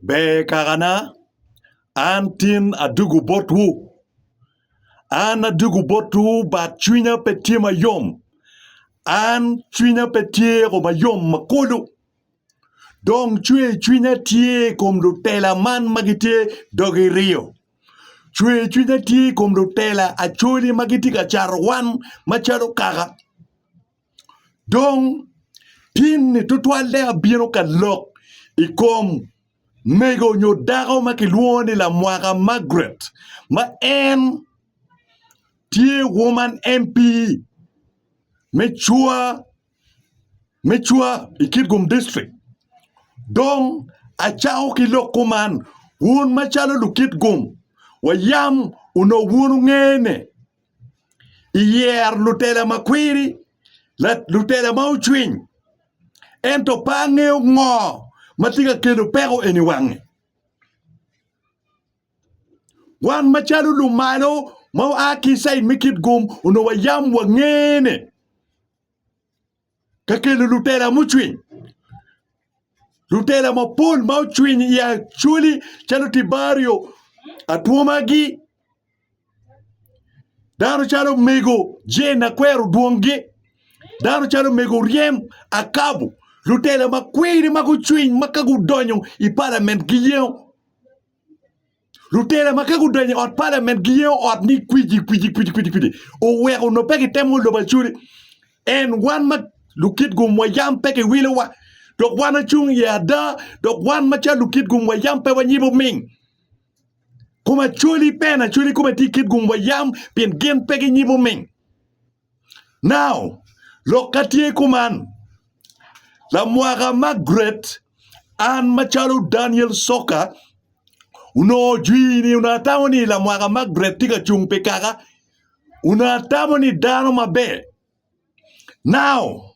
Ber kakana, an tin adwogo botwu. An adwogo botwu but cwinya pe tye mayom. An cwinya pe tye ko mayom ma kulu. Dong cwercwinya tye i kom lutela man ma gitye dogi riyo. Cwercwinya tye i kom lutela acholi ma gitye ka cato wan macalo kaka. Dong, tin-ni tutwalle abino ka lok i kom mego nyo dako ma kilwongo ni Lamwaka Margaret ma en tye Woman MP me Cwa me Cwa i Kitgum District. Dong, acako ki lok kuman, wun macalo Lukitgum, wayam onongo wun wungene. iyer lutela ma kwiri, lutela ma ocwiny ento pe angeyo ngo ma tye ka kelo peko eni i wange wan macalo lumalo ma oa ki i cid me kitgum onongo wayam wange ni. ka kelo lutela mucwiny lutela mapol ma ocwiny i acwali calo tibario atwomagi dano calo mego jen akwero dwongi dano calo mego ryem akabu lutela makwiri ma gucwiny ma ka gudonyo i palament giyengo Lutela ma ka gudonyo i ot palament giyengo ot ni kwiji kwiji kwiji kwiji kwiji oweko onongo pe gitemo lobo acoli en wan ma lukit gumwa yam pe giwilowa dok wan acung iye ada dok wan macalo lukit gumwa yam pe wanyibo ming kom acoli pe en acoli kome tye kit gumwa yam pien gin pe ginyibo ming Now, lok ka tye kuman, lamwaka Margaret an macalo Daniel Soka onongo ojwir ni onongo atamo ni lamwaka Margaret tye ka cung pi kaka onongo atamo ni dano maber. Now,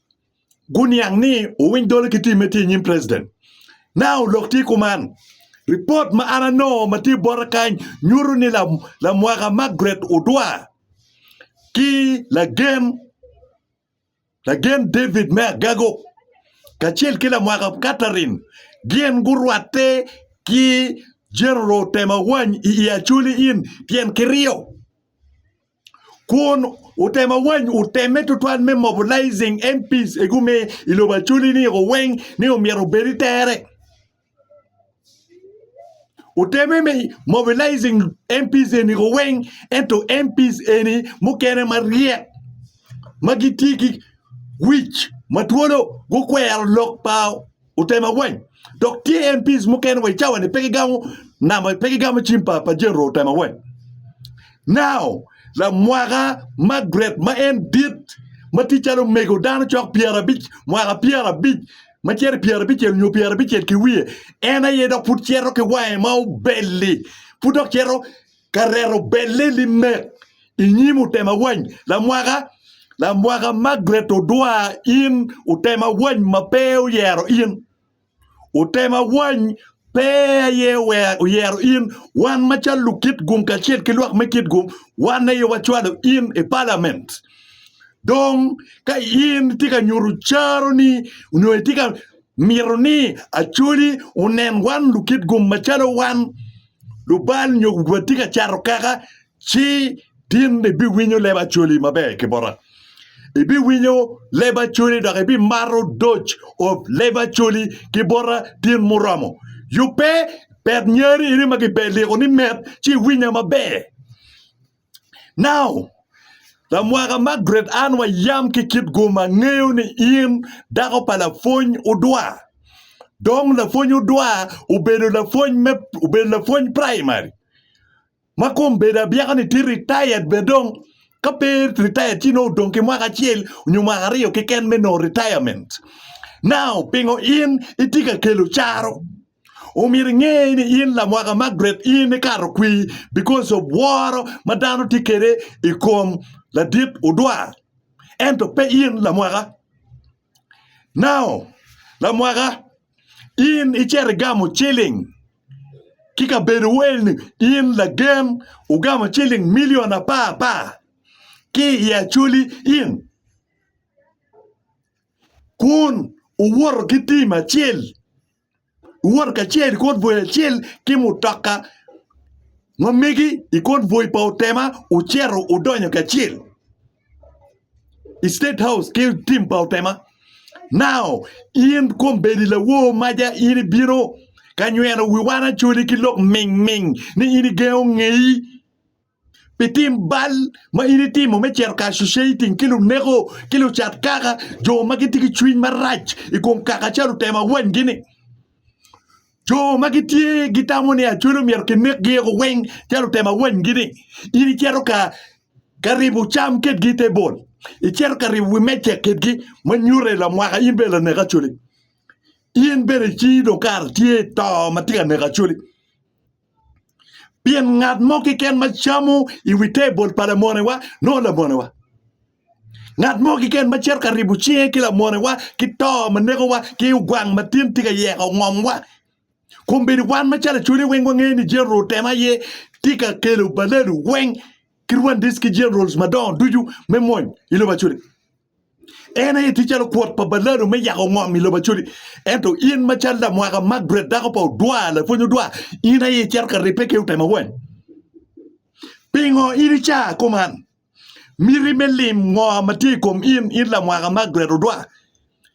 guniang ni owiny dolo ki tim me tye i nyim president. Now lok tye kuman. Report ma an anongo ma tye bota kany nyuto ni lam, lamwaka Margaret Odwa ki lagen lagen David me Agago kacel ki lamwaka Catherine gin gurwatte ki General Temawany i Acholi Inn tyen ki ryo. kun otemo awany oteme tutwal me mobilizing MPs e gume i lobo Acholi ni o weng ni omyero obed i tere. Oteme me mobilizing MPs eni o weng ento MPs eni mukene maryek ma gitye ki wic ma twolo gukwero lok pa Otema weng, dok tye NPs mukene wa i cawa ni pe gigamo namba, pe gigamo cim pa pa General Otema weng. Now, lamwaka Margaret ma en dit ma tye calo mego dano cok pyerabic, mwaka pyerabic ma cito i pyerabicel nyo pyerabicel ki wiye, en aye dok pud cito ki wange ma obelli, pud dok cito ka reto belle limek i nyim otema wany lamwaka lamwaka Margaret Odwa in otema wany ma pe oyero in otema wany pe aye oyero in wan macalo lukit gum kacel ki lwak me kit gum wan aye wacwalo in i palament dong ka in tye ka nyuto caroni nyo itye ka mito ni acoli onen wan lukit gum macalo wan Lubal nyo gubwot tye ka cato kaka, ci tin ibiwinyo leb acoli maber ki bota. Ibiwinyo leb acoli dok ibimato doc of leb acoli ki bota tin muromo. Yubbe, pet nyari eni ma gipe liko ni met, ci iwinya maber. Now, lamwaka Margaret Ann wa yam ki kit gum angeyo ni in dako pa lapwony odwa. Dong lapwony odwa obedo lapwony me obedo lapwony primary ma kom bedo abyeka ni tye retired bene dong ka pe retired ci nongo odong ki mwaka acel nyo mwaka aryo keken me nongo retirement. Now, pingo in itye ka kelo caro? Omyero inge ni in lamwaka Margaret in ikato kwi because of woro ma dano tye kede i kom ladit odwa ento pe in lamwaka. Now lamwaka in icito igamo ciling ki kabedo wo eni in lagen ugamo ciling million apar apar ki i Acholi in kun uwoto ki team acel. iwot kacel i kor bwoi acel ki mutoka ma megi i kor bwoi pa Otema wucito wudonyo kacel i State House ki tim pa Otema. Now in kombeddi lawor maja in ibino ka nyweno wi wan Acholi ki lok mingming ni in igengo ngeyi pi tim bal ma in itimo me cito ka associating ki luneko ki lucat kaka jo ma gitye ki cwiny marac i kom kaka ca lutemo awanygi-ni. Jo ma gitye gitamo ni acwalo myero kinekgi eko weng ca lutemo awanygi-ni. In icito ka ka ribo cam kedgi i te bol, icito ka ribo wi meja kedgi ma nyuto lamwaka in bene lanek acwali. In bene icii dong kara tye to ma tye ka neko acwali. pien ngat mo keken ma camo i wi tebol pa lamonewa nongo lamonewa, ngat mo keken ma cito ka ribo cinge ki lamonewa ki to ma nekowa ki ogwang ma tin tye ka yeko ngomwa, kombeddi wan macalo ecwele weng wangeyo ni General Tema aye tye ka kelo balelu weng ki Rwandese ki Generals madongo ducu me mony i lobo Acwele. En aye tye calo kwot pa balado me yako ngom i lobo Acholi. Ento in macalo lamwaka Margaret dako pa odwar, lapwony odwar, in aye icito ka ribbe ki otemo weng. Pingo in i caa kuman miti me lim ngo ma tye i kom in, in lamwaka Margaret odwar?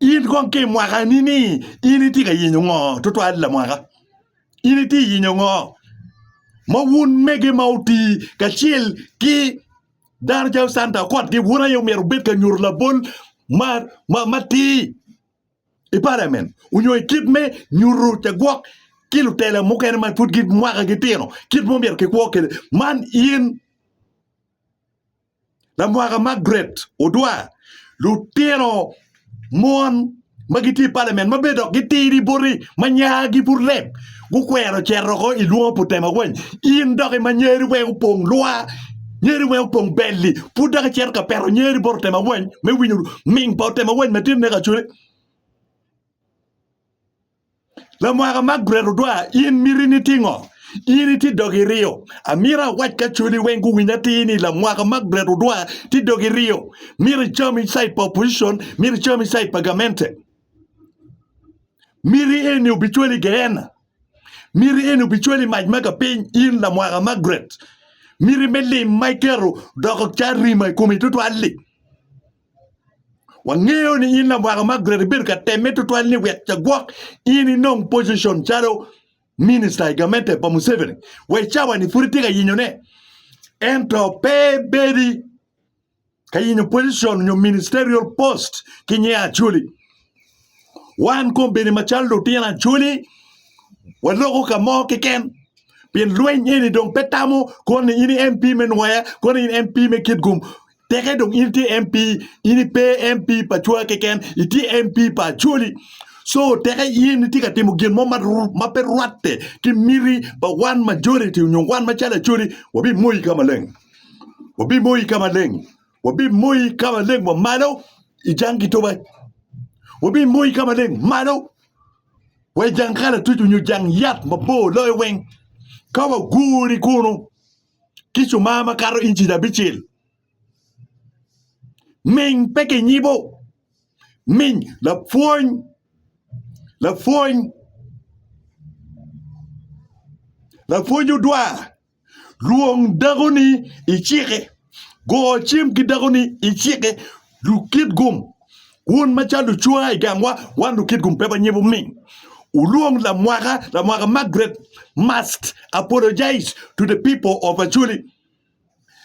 In kong ki i mwakani ni in itye ka yenyo ngo tutwal lamwaka? In itye ka yenyo ngo ma wun mege ma otii kacel ki dano calo Santa Okot gi wun aye myero wubed ka nyuto labol matir i paliamen nyo i kit me nyuto cagwok ki lutela mukene ma pud mwakagi tino kit ma omyero kikwo kwede man in Lamwaka Margaret Odwa, Lutino mon ma gitye i palamen ma bene dok gitidi boti ma nyagi pud leng gukwero cito oko i lwongo pu tema weny. In doki ma nyeri weng opong lwa, nyeri weng opong belli pud dok icito ka peto nyeri bot otema weny me winyo ming pa otema weny ma tye neka cwale. Lamwaka Margaret Odwar, In mitini tye ngo? In itye dogi iryo. Amito awac ki acwali weng guwiny atir ni Lamwaka Margaret Odwar tye dogi iryo. Mito icam i cait pa opposition, mito icam i cait pa gamente. Miti eni obicwali i Geena. Miti eni obicwali i mac ma kapiny in Lamwaka Margaret. Miti me lim ma iketo doko ca rima i komi tutwal-li. Wangeyo ni in lawaka ma great ibedo ka temme tutwal ni wek ca gwok in inong position calo minister i gamente pa Museveni wa i cawa ni pud itye ka yinyo ne ento pe ibedi ka yinyo position nyo ministerial post ki nye Acholi. Wan kombeni macalo lutino Acholi waloko ka mo keken pien lweny eni dong pe tamo koni in MP me Nwaya koni in MP me Kitgum Teke dong in itye MP, in ipe MP pa cwa keken, itye MP pa Acholi. So teke in itye ka timo gin mo ma, ma pe rwatte ki miti pa wan majority onyo wan macalo Acholi, wabimoyi ka maleng. Wabimoyi ka maleng. Wabimoyi ka maleng wa malo i jang kitoba. Wabimoyi ka maleng malo wa i jang kalatuc onyo jang yat mabor loyo weng ka waguri kunu. ki cumaa makato inci abicel. Ming pe kinyibo. Ming lapwony lapwony lapwony odwar lwong dakoni icike go cim ki dakoni icike Lukitgum, wun ma calo lucwa i gangwa, wan Lukitgum pe wanyibo mi wulwong lamwaka, lamwaka Margaret must apologize to the people of Acholi.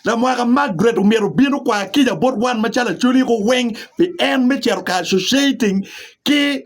Lamwaka Margaret omyero obin okwa kica bot wan ma calo Acholi ko weng pi en me cito ka associating ki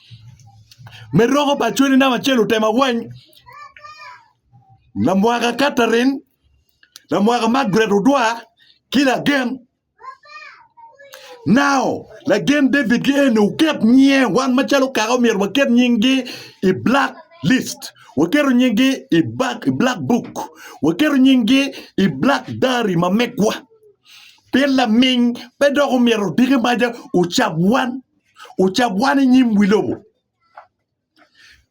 me roko bad cwali namba acel lutemo awany lamwaka katarin lamwaka magret odwa ki lagen nao lagen David ki eni wuket nyinge wan macalo kaka omyero waket nyinggi i black list waketo nyinggi i black book waketo nyinggi i black diary ma megwa pien laminy pe dok omyero odiki maca ocab wan ocabwane nyim wi lobo.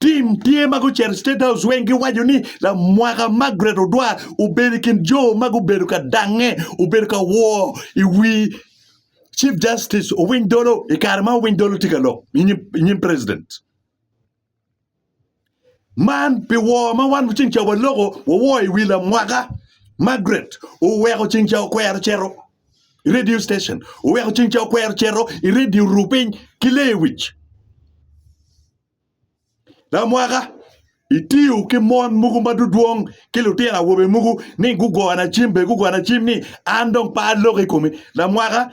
Tim tye ma gucito State House weng giwaco ni lamwaka Margaret Odwa obedo i kin jo ma gubedo ka dange, obedo ka woo i wi Chief Justice Owiny Dolo i kare ma Owiny Dolo tye ka lok i nyim president. Man pi woo ma wan ceng ca waloko wawoo i wi lamwaka Margaret oweko ceng ca okwero cito i radio station oweko ceng ca okwero cito i radio oru piny ki lewic lamwaka itiyo ki mon mogo ma dudwong ki lutino awobe mogo ni gugona cim bene gugona cim ni an dong pe aloko i komi lamwaka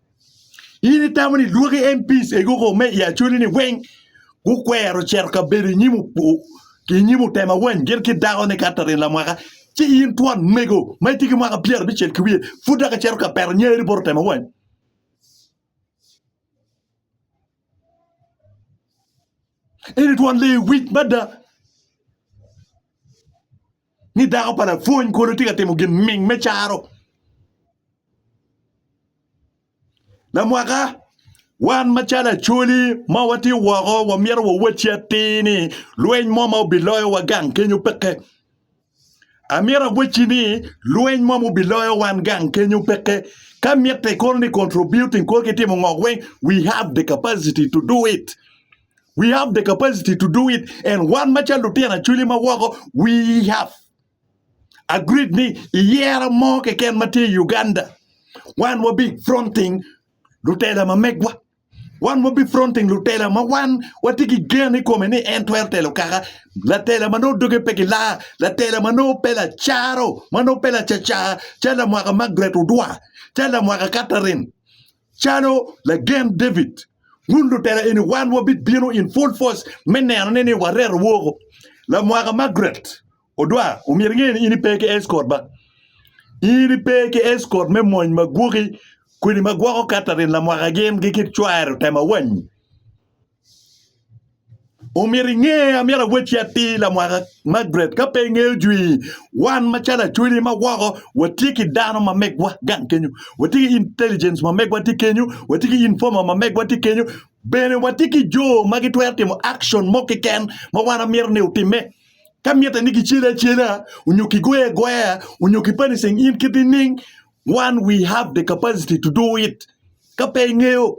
In itamo ni lwaki MPs egi oko me i Acholi-ni weng gukwero cito ka bedo i nyim opo ki i nyim otema wany gin ki dakone Katherine Lamwaka ci in twon mego ma itye ki mwaka pyera abicel ki wiye pud dok icito ka peto nyeri bot otema wany? Eni twon lee wic mada. ni dako pa lapwony kulu tye ka timo gin ming me caro. Lamwaka, wan macalo Acholi ma watye woko wamito wawacci atir ni lweny mo ma obiloyowa gang kenyo peke. Amito awacci ni lweny mo ma obiloyo wan gang kenyo peke. Ka mitte kono ni contributing kor kitimo ngo weng, we have the capacity to do it. We have the capacity to do it and wan macalo lutino acwili ma woko we have agreed ni i yero mo keken ma tye i Uganda wan wabi fronting lutela ma megwa wan wabi fronting lutela ma wan watye ki gen i kome ni en twero telo kaka latela ma nongo doge pe gilaa latela ma nongo pe lacaro ma nongo pe lacacar calo lamwaka Margaret Odwa calo lamwaka Catherine Calo lagen David, wun lutela eni wan wabibino in full force me neno ni ni wareto woko. Lamwaka Margaret Odwa, omyero inge ni in ipe ki escort ba. In ipe ki escort me mony magwoki kodi ma gwoko Catherine lamwaka gin gi kit cware otema wany. Omyero inge, amyero awacci atir lamwaka Margaret ka pe ingeyo jwi, wan macalo achwili ma woko watye ki dano ma megwa gang kenyo, watye ki intelligence ma megwa tye kenyo, watye ki informer ma megwa tye kenyo, bene watye ki jo ma gitwero timo action mo keken ma wan amyero ni otimme. Ka mitte ni kicele acela onyo kigoye agoya onyo ki punishing in kit nining, wan we have the capacity to do it ka pe ingeyo.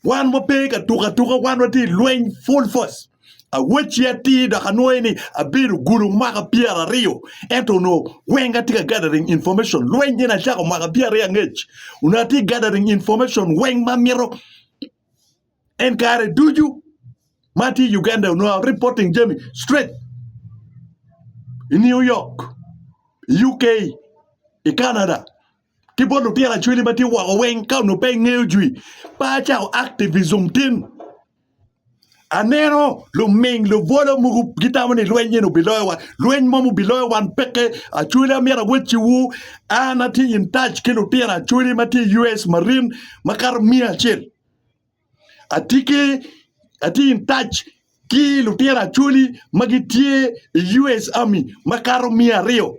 Wan wape ka tuko atuka, wan watye i lweny full force. Awacci atir dok anwoyo ni abedo gulu mwaka pyeraryo ento onongo weng atye ka gathering information. Lweny eni acako mwaka pyeraryo angec onongo atye gathering information weng ma amito en kare ducu ma atye i Uganda onongo a reporting jami straight i New York, UK, i Canada. ki bot lutino acwele ma tye woko weng ka onongo pe ingeyo jwi pe acako activism tin aneno luming lubwolo mogo gitamo ni lweny eni obiloyowa lweny mom obiloyo wan peke acwele amyero awecciwu an atye in touch ki lutino acwele ma tye i US marine makato miya acel atye ki atye in touch ki lutino acwele ma gitye i US army makato miya aryo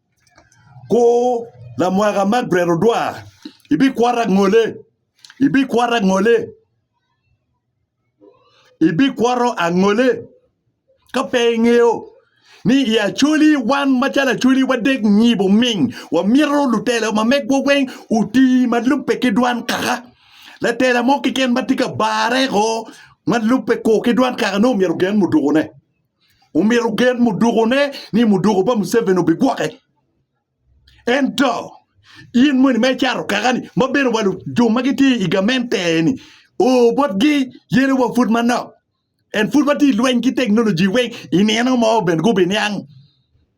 Kur lamwaka man bret odwa, ibikwata angole, ibikwata angole, ibikwato angole ka pe ingeyo ni i Acholi wan macalo Acholi wadek nyibo ming wamito lutela ma megwa weng oti ma lubbe ki dwan kaka latela mo keken ma tye ka barre o ma lubbe kur ki dwan kaka nongo myero ogen mudukune. omyero ogen mudukone ni muduko pa Museveni obigwoke. Ento in moni ma icato kakani ma bene wa jo ma gitye i gamente-ni oo botgi yene wa pud manok. En pud watye i lweny ki teknoloji weng i nino mo bene gubiniang.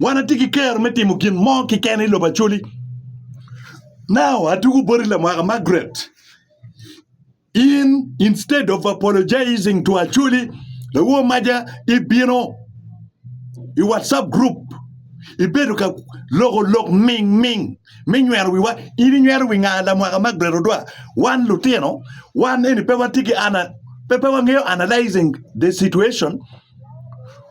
Wan atye ki kero me timo gin mo keken i lobo Acholi. Now atugo boti lamwaka Margaret. In instead of apologizing to Acholi, lawo maja ibino i WhatsApp group ibedo ka loko lok ming ming me nywero wiwa. In inywero wi nga lamwaka Margaret Odwa? Wan lutino, wan eni pe watye ki ana pe pe wangeyo analyzing the situation.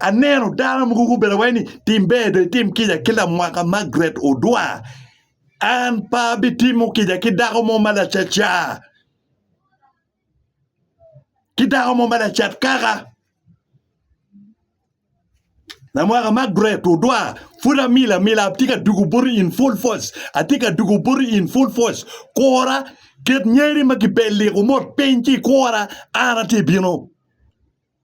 Aneno dano mogo gubedo iwaci ni tim ber dong itim kica ki lamwaka Margaret Odua an pe abitimo kica ki dako mo ma lacaca ki dako mo ma lacat kaka lamwaka Margaret Odua pud amil amila atye ka dwogo boti in full force atye ka dwogo boti in full force kura ket nyeri ma kibelli kumot piny ci ikura an atye bino.